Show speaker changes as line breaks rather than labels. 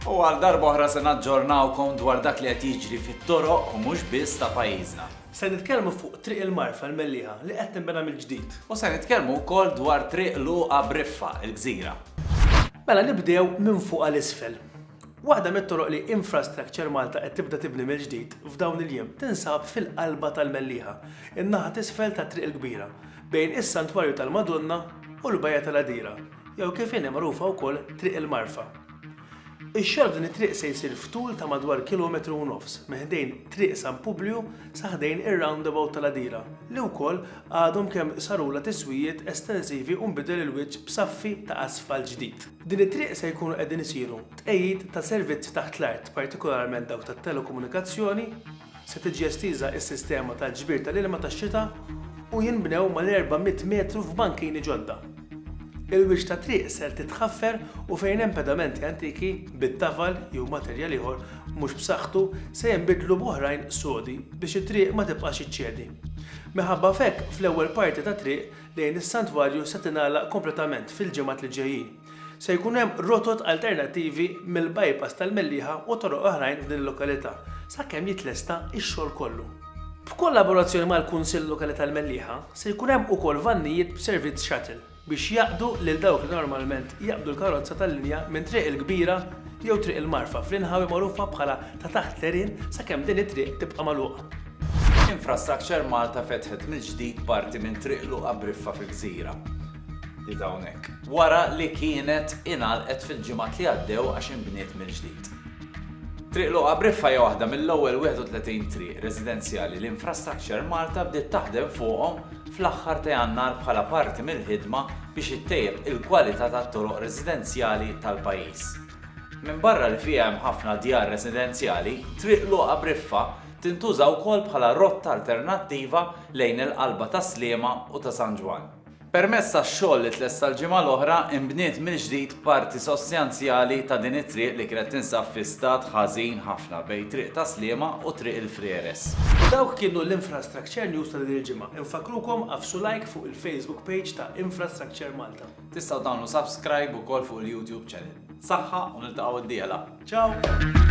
U għal darba oħra se naġġornawkom dwar dak li qed jiġri fit-toroq u mhux biss ta' pajjiżna. Se nitkellmu fuq
Triq il-Marfa l-Mellieħa li qed tinbena mill-ġdid. U se nitkellmu
wkoll dwar Triq Luqa Briffa, il-Gżira. Mela
nibdew minn fuq għal isfel. Waħda mit-toroq li Infrastructure Malta qed tibda tibni mill-ġdid f'dawn il-jiem tinsab fil-qalba tal-Mellieħa, in-naħa t'isfel tat-Triq il-Kbira, bejn is-Santwarju tal-Madonna u l-Bajja tal-Għadira, jew kif inhi magħrufa wkoll Triq il-Marfa. Ix-xogħol f'din it-triq se jsir f'tul ta' madwar kilometru u nofs, minn ħdejn Triq San Publju sa ħdejn ir-roundabout tal-Għadira, li wkoll għadhom kemm sarulha tiswijiet estensivi u nbidel il-wiċċ b'saffi ta' asfalt ġdid. B'din it-triq se jkunu qegħdin isiru tqegħid ta' servizzi taħt l-art, partikolarment dawk tat-telekomunikazzjoni, se tiġi estiża s-sistema tal-ġbir tal-ilma tax-xita u jinbnew mal-400 metru f'bankini ġodda. Il-wiċċ tat-triq ser titħaffer u fejn hemm pedamenti antiki bit-tafal jew materjal ieħor mhux b'saħħtu se jinbidlu b'oħrajn sodi biex it-triq ma tibqax iċċedi. Minħabba f'hekk fl-ewwel parti tat-triq lejn is-santwarju se tingħalaq kompletament fil-ġimgħat li ġejjin. Se jkun hemm rotot alternattivi mill-bypass tal-Mellieħa u toroq oħrajn f'din il-lokalità sakemm jitlesta x-xogħol kollu. B'kollaborazzjoni mal-Kunsill Lokali tal-Mellieħa, se jkun hemm ukoll vannijiet b'servizz shuttle biex jaqdu lil dawk li normalment jaqbdu l-karozza tal-linja minn Triq il-Kbira jew Triq il-Marfa fl-inħawi magħrufa bħala ta' taħt l-għerien sakemm din it-triq tibqa' magħluqa. Infrastructure
Malta fetħet mill-ġdid parti minn Triq Luqa Briffa fil-Gżira. Di hawnhekk. Wara li kienet ingħalqet fil-ġimgħat li għaddew għax inbniet mill-ġdid. Triq Luqa Briffa hija waħda mill-ewwel 31 triq residenzjali li Infrastructure Malta bdiet taħdem fuqhom fl-aħħar ta' Jannar bħala parti mill-ħidma biex ittejjeb il-kwalità tat-toroq residenzjali tal-pajjiż. Minbarra li fiha hemm ħafna djar residenzjali, Triq Luqa Briffa tintuża wkoll bħala rotta alternattiva lejn il-qalba ta' Sliema u ta' San Ġwann. Permezz tax-xogħol li tlesta l-ġimgħa l-oħra, inbniet mill-ġdid parti sostanzjali ta' din it-triq li kienet tinsab fi stat ħażin ħafna bejn Triq ta' Sliema u Triq il-Frieres. Dawk kienu
l-Infrastructure News ta' din il-ġimgħa. Infakkrukom għaffsu like fuq il-Facebook page ta' Infrastructure Malta. Tistgħu tagħmlu
subscribe ukoll fuq il-YouTube channel. Saħħa u
niltaqgħu
d-dieħla. Ciao!